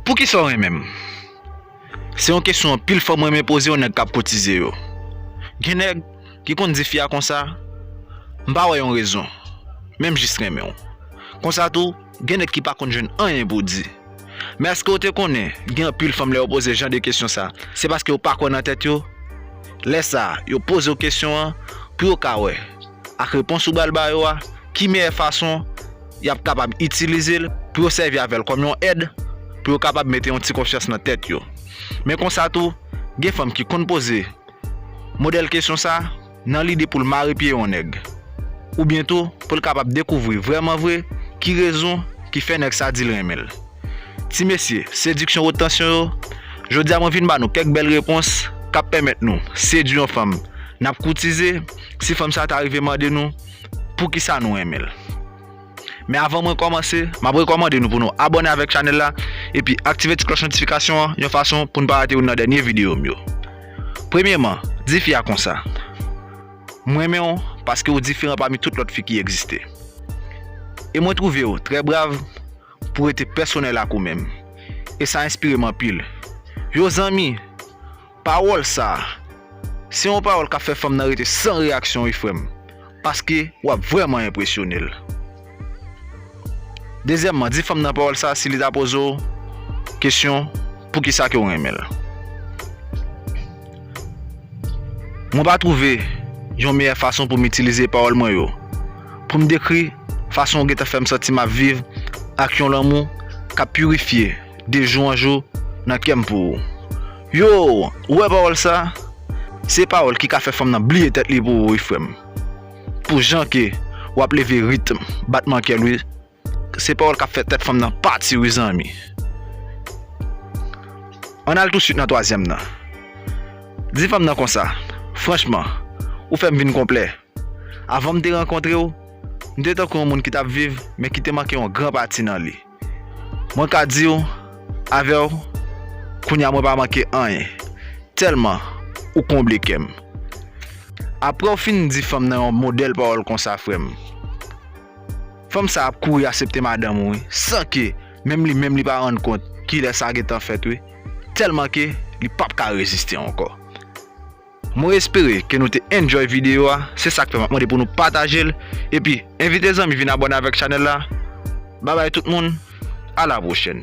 Poukisa w renmen m? Se yon kesyon anpil fanm renmen poze yon nèg k ap kotize yo. Gen nèg ki konn di fi a konsa, M pa wè yon rezon, men m jis renmen w. Konsa tou, gen nèg ki pa konn jwenn anyen pou di. Men èske w te konnen gen anpil fanm lè yo poze jan de kesyon sa, se paske yo pa kwè nan tèt yo? Lè sa, yo poze w kesyon an pou yo ka wè. ak repons ou bal ba yo a, ki meyè fason yap kapab itilizel pou yo sèvi avèl kòm yon èd pou yo kapab mete yon ti konfyans nan tèt yo. Men konsa tou gen fanm ki konn poze modèl kesyon sa nan lide poul mare pye yon nèg oubyen tou poul kapab dekouvri vrèman vre ki rezon ki fè nèg sa dil renmenl. Ti mesye, sediksyon wot tansyon yo, jodia mwen vin ba nou kèk bèl repons kap pèmèt nou sedwi yon fanm nap koutize. si fanm sa ta rive mande nou poukisa nou renmen l. Men avan mwen kòmanse, m ap rekòmande nou pou nou abòne avèk chanèl la epi aktive ti klòch notifikasyon an yon fason pou n pa rate youn nan dènye videyo m yo. Premyeman, di fi a konsa, M renmen w paske ou diferan pami tout lòt fi ki egziste. E mwen twouve w trè brav pou w rete pèsonèl ak ou menm. E sa enspire m anpil. Yo zanmi! Pawòl sa Se yon pawòl kap fè fanm nan rete san reyaksyon wi frèm paske wap vrèman enpresyonel Dezyèmman di fanm nan pawòl sa si li ta pozew kesyon poukisa kew renmenl Mwen pa twouve yon meyè fason poum itilize pawòl mwen yo poum dekri fason ou gentan fèm santi map viv ak yon lanmou kap pirifye de jou an jou nan kèm pou ou. Yo, ou wè pawòl sa? Se pawòl ki ka fè fanm nan bliye tèt li pou ou wi frèm. Pou jan ke wap leve ritm batman kèl wi. Se pawòl kap fè tèt fanm nan pati wi zanmi. Ann al touswit nan twazyèm nan. Di fanm nan konsa, Franchman, ou fèm vin konplè. Avanm te rankontrew, m te tankou yon moun ki tap viv men ki te manke yon gran pati nan li. Mwen ka diw avèw kounya mwen pa manke anyen tèlman ou konble kèm aprèw fin di fanm nan yon modèl pawòl konsa frèm fanm sa ap kouri asepte madanm ou wi san ke menm li menm li pa rann kont kilè sa gentan fèt wi tèlman ke li pap ka reziste ankò. Mwen espere ke nou te enjoy video a, se sak fè map mande pou nou patajel, epi envite zanmi vin abòne avèk chanèl la, babay tout moun, a la pwochèn.